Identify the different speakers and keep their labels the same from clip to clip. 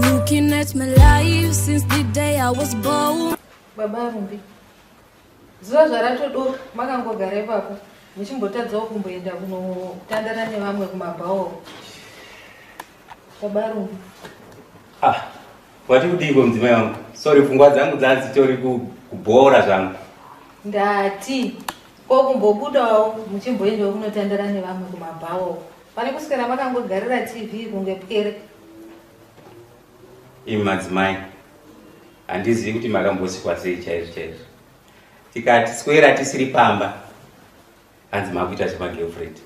Speaker 1: Looking at my life since the day I was born. Baba Rumbi,
Speaker 2: zuva zvaratodoka makangogara ipapo muchimbotadzawo kumboenda kunotandara nevamwe kumabhawo. Baba Rumbi. Ah,
Speaker 3: wati kudiiko mudzimai wangu? Sorry, pfungwa dzangu dzadzitori kubhora zvangu. Ndati.
Speaker 2: Ko kumbobudawo muchimboendawo kunotandara nevamwe kumabhawa uko. Pane kuswera makangogarira TV kunge pwere.
Speaker 3: Imi madzimai, handizivi kuti makambosikwa sei chaizvo chaizvo. Tikati swera tisiri pamba, hanzi makuita zvemagirlfriend.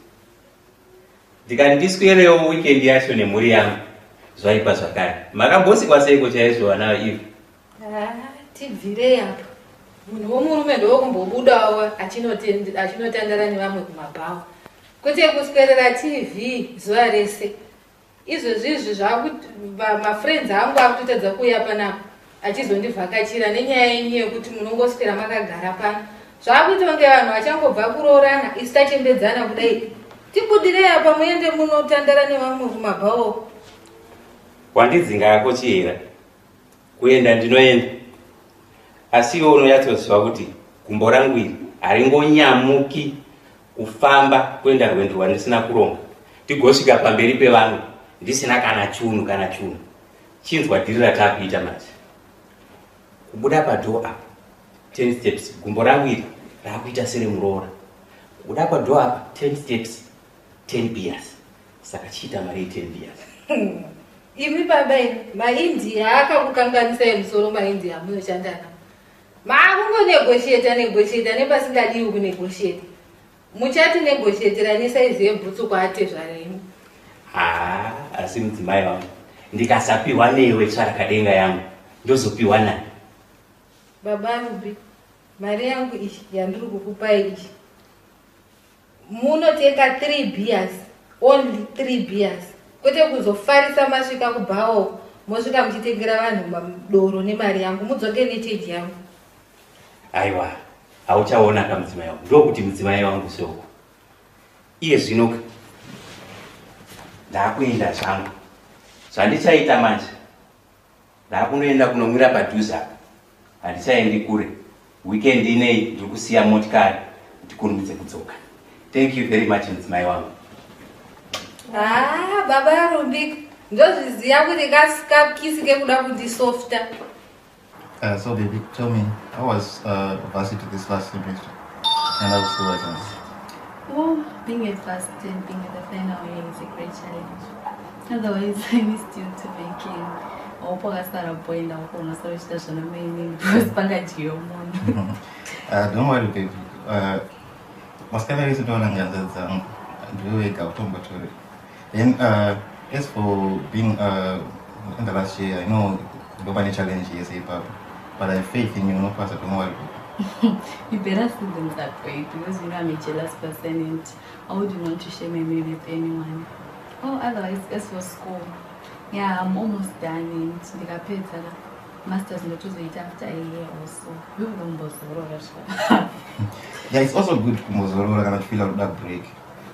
Speaker 3: Ndikati ndiswerewo weekend yacho nemhuri yangu, zvaipa zvakare. Makambosikwa seiko chaizvo vana Eve?
Speaker 2: tibvirei apa munhu womurume ndokumbobudawo achinotandara nevamwe kumabhawa kwete kuswerera tv zuva rese izvezvi izvi zvamafriends angu akutotadza kuuya panapa achizondivhakachira nenyaya yenyu yekuti munongoswera makagara pano zvakuita kunge vanhu vachangobva kuroorana isu tachembedzana kudai tibudirei apa muende munotandara nevamwe kumabhawo
Speaker 3: wandidzinga yako chihera kuenda ndinoenda asi iwe unonyatsoziva kuti gumbo rangu iri haringonyamuki kufamba kuenda rwendo rwandisina kuronga ndigosvika pamberi pevamwe ndisina kana chunhu kana chunhu chinzwa dhiri rataakuita manje kubuda padhoo apa ten steps gumbo rangu iri raakuita seremuroora kubuda padhoo apa ten steps 10 beers saka chiita mari 10 beers imi
Speaker 2: baba imi maindia akakukanganisai musoro maindia munoshandana maakungonegosheta negosheta nepasingadiwi kunegosheta muchati negoshetera nesaizi yebhutsu kwaatezvara imi haa
Speaker 3: asi mudzimai vangu ndikasapiwa newe tsvarakadenga yangu ndozopiwa nani baba
Speaker 2: rubi mari yangu iyi yandiri kukupai iyi Munotenga 3 beers only 3 beers kwete kuzofarisa masvika kubhawa uko mosvika muchitengera vanhu madoro nemari yangu mudzoke necheji yangu.
Speaker 3: Aiwa hauchaona ka mudzimai wangu ndokuti mudzimai wangu seuko iye zvino ka ndakuenda zvangu zvandichaita manje Ndakunoenda kunomira padhuze apa. Handichaendi kure. Weekend inei ndiri kusiya motikari kuti kunudze kudzoka. Thank you very much mudzimai wangu. Ah,
Speaker 2: baba Rumbiko. Ndozviziva kuti kasikapkisi kekuda kundisofta. Uh,
Speaker 4: so baby, tell me, how was uh, varsity this last semester? And how was the weather? Oh, being a first and being at the final year
Speaker 5: is a great challenge. Otherwise, I missed you to be king. Opo kasara boy na uko na sabe chita shana mimi
Speaker 4: because panga jiyo mono. Ah, don't worry baby. Uh, maskana yesu ndo ananganza dzangu. Ndiwe wega utombo tore. Then uh, as for being uh, in the last year, I know ndo pane challenge yese ipapo. But I faith in you, no pasa, don't worry. you better
Speaker 5: see them that way because you know I'm a jealous person and I wouldn't want to share my meal with anyone. Oh, otherwise, as for school, yeah, I'm almost done and ndikapedza la masters ndotozoita after a year or so. Ndokuda kumbozorora zvaka.
Speaker 4: Yeah, it's also good kumbozorora kana uchifila kuda break.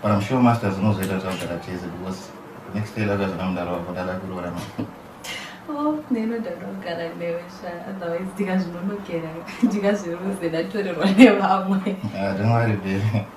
Speaker 4: But I'm sure masters unozoita kuti wagara chese because next day lada zvana mudaro wako dada kuroora ma. Oh,
Speaker 5: ndinoda kugara newe sha, otherwise ndikazvinonokera ndikazviruze ndatorerwa nevamwe. Yeah, don't
Speaker 4: worry baby.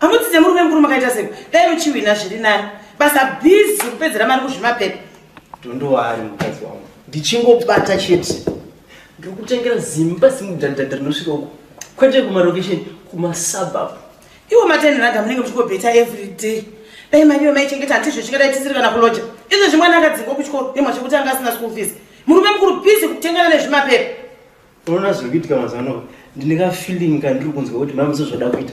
Speaker 6: amudzidze murume mukuru makaita sei dai muchiwina zviri nani basa bhizi kupedzera mari kuzvimapepa ndondowaari
Speaker 7: mukadzi wangu ndichingobata chete ndiri kutengera zimba simudhandadha rinosvika uko kwete kumarokesheni kumasabab iwo
Speaker 6: matenheraga munenge muchingobeta every day dai mari iwe maichengeta hati izvo chingadai tisiri kana kuloja izvo zvimwana akadzingwa kuchikoro nemwa chekuti anga asina school fees murume mukuru bhizi kutengana nezvimapepa unoona zviri
Speaker 7: kuitika mazano ndine kafeeling kandiri kunzwa kuti maimuso zvoda kuita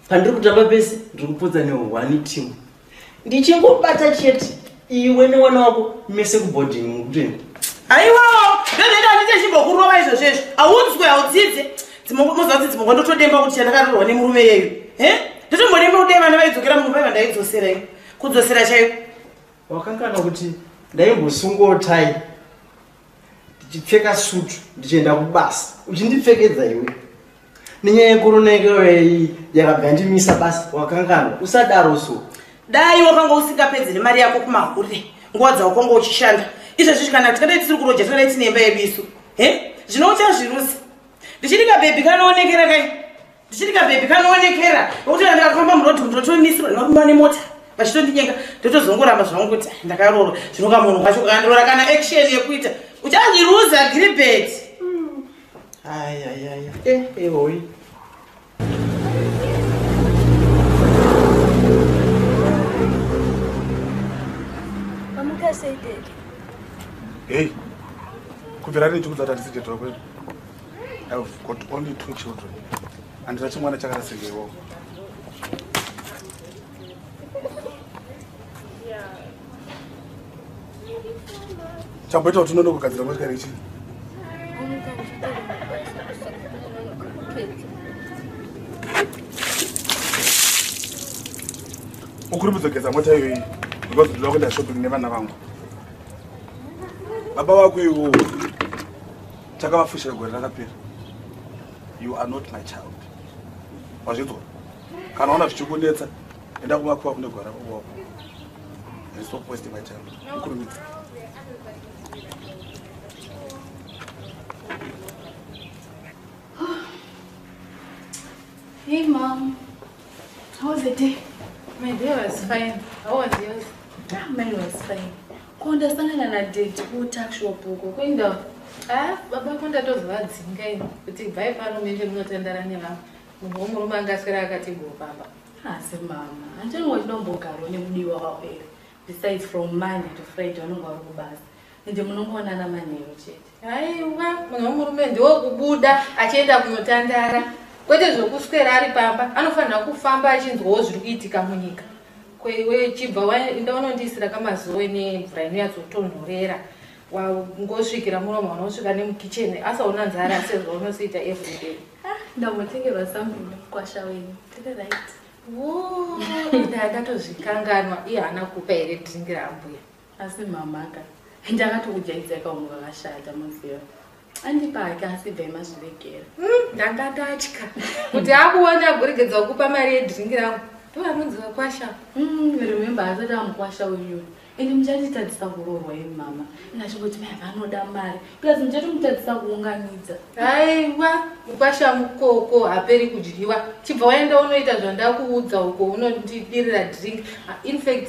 Speaker 7: pandiri kutamba pese ndiri kupotsa nehwani team ndichingobata chete iwe newana wako mese kuboarding mukuteni
Speaker 6: aiwawo ndozoita kuti ndechimbokurova izvo zvezvo
Speaker 7: audzwe
Speaker 6: audzidze dzimoza kuti dzimogwa ndotodemba kuti chandakarirwa nemurume yeyu he ndotombodemba kudai vana vaidzokera munhu vaiva ndaidzosera iyo kudzosera chaiyo wakangana
Speaker 7: kuti ndaimbosungotai ndichipfeka sutu ndichienda kubasa uchindipfekedza iwe nenyaya yekorona yekeoyei yakabva yandimisa basa wakanganwa usadaro so dai wakanga
Speaker 6: usingapedzi nemari yako kumahure nguva dzawakanga uchishanda izvezvi kana kuti kadai tisiri kuroja tingadai tine imba yedu isu he zvino uchazvirusa ndichidika bhebhi kanoonekera kai ndichiri kabhebhi kanoonekera nokuti kana ndakafamba murodhi umu ndotomisirwa nevarume vane mota vachitondinyenga ndotozongoramba zvangu kuti ndakarorwa zvino kamunhu kwacho kakandirora kana action yekuita uchazviruza gribet ayayaya
Speaker 7: hmm. eh, ehoi
Speaker 8: eh, Hey, kubvira rinhi chikudza tatisijetora kwedu? I've got only two children and that's one chakara sengewo chamboita kuti unono kugadzira motikari ichii ukuri mudzogeza mota iyoyi because ndinoda kuenda shopping nevana vangu baba vako iwowo chakavafushira gore rakapera you are not my child wazvinzwa kana ona zvichikunetsa enda kumakuva kune gwara kuwako stop wasting my time ukurumidza Hey mom, how was the day? My day was fine. How was yours? Ah, mine
Speaker 5: was fine. Ko ndasangana nadaddy kutuckshop uko kuenda ah, baba
Speaker 2: ko ndatozovadzinga ini kuti bvai pano menge munotandara nevanhu munhu womurume anga aswera akatigoo pamba asi mama
Speaker 5: handini wachinombogaro nemudiwa wako ere besides from monday to friday vanonge vari kubasa ende munongoonana manheru chete haiwa munhu
Speaker 2: womurume ndiwo kubuda achienda kunotandara kwete zvokuswera ari pamba anofanira kufamba achinzwawo zviri kuitika munyika Ko iwe chibva waenda unondiisira kamazowe nemvura inonyatsotonhorera wangosvikira muromo wanaosvika nemukicheni asaona nzara sezvaunosiita everyday ah, ndamotengerwa
Speaker 5: sambuni kwasha wenyu tiri right
Speaker 2: ndatozvikanganwa iye haana kupa here dhingi rambuya asi mamaka
Speaker 5: ndakatokujaidza ikaungu vakashata muziva andipake asi bva imazviregera hmm, ndanga ndatya
Speaker 2: kuti akuona agoregedza kukupa mari yedringi rangu ndoanonzi vakwasha hmm, remember
Speaker 5: asati amukwasha uyu ende muchatitadzisa kuroorwa imi mama ndachingoti mai vanoda mari plus muchatomutadzisa kuunganidza aiwa
Speaker 2: mukwasha mukoko haperi kudyiwa chibva waenda unoita zvandakuudza uko unondidirira drink infact